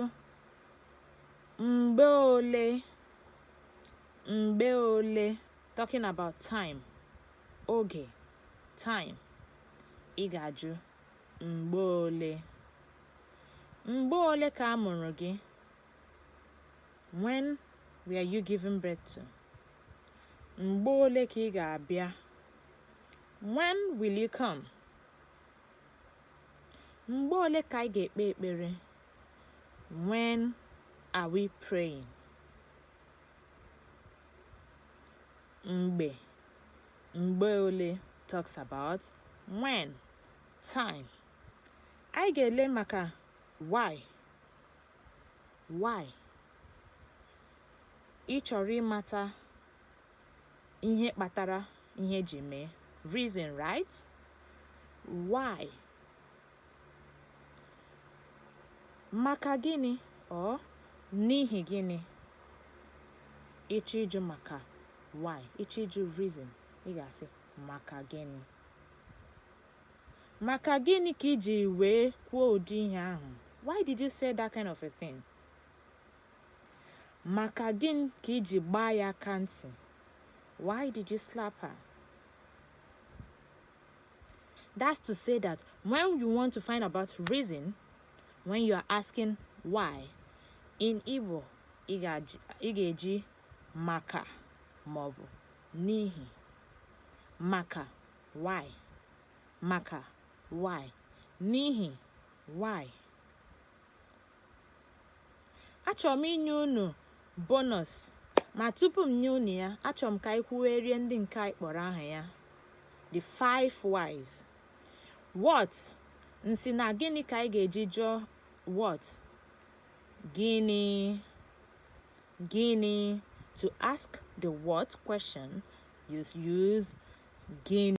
ajụjụ mgbe ole mgbe ole talking about time oge time ị ga-ajụ mgbe ole mgbe ole ka a mụrụ gị when were you given birth to mgbe ole ka ị ga-abịa when will you come mgbe ole ka anyị ga-ekpe ekpere When are we praying? Mgbe mgbe ole talks about when time. Anyị ga-ele maka why why ị chọrọ ịmata ihe kpatara ihe ji mee reason right why Maka gịnị or n'ihi gịnị? Ị chọọ ịjụ maka why, ị chọọ ịjụ reason, ị ga-asị maka gịnị? Maka gịnị ka i ji wee kwuo ụdị ihe ahụ? Why did you say that kind of a thing? Maka gịnị ka i ji gbaa ya aka ntị? Why did you slap her? That's to say that when you want to find about reason, when you are asking why, in Igbo, ị ga-eji maka maọbụ n'ihi maka why maka why n'ihi why achọrọ m inye unu bonus ma tupu m nye unu ya achọrọ m ka anyị kwuwerie ndị nke anyị kpọrọ aha ya the five whys what m sị na gịnị ka anyị ga-eji jụọ what gịnị gịnị to ask the what question you use gịnị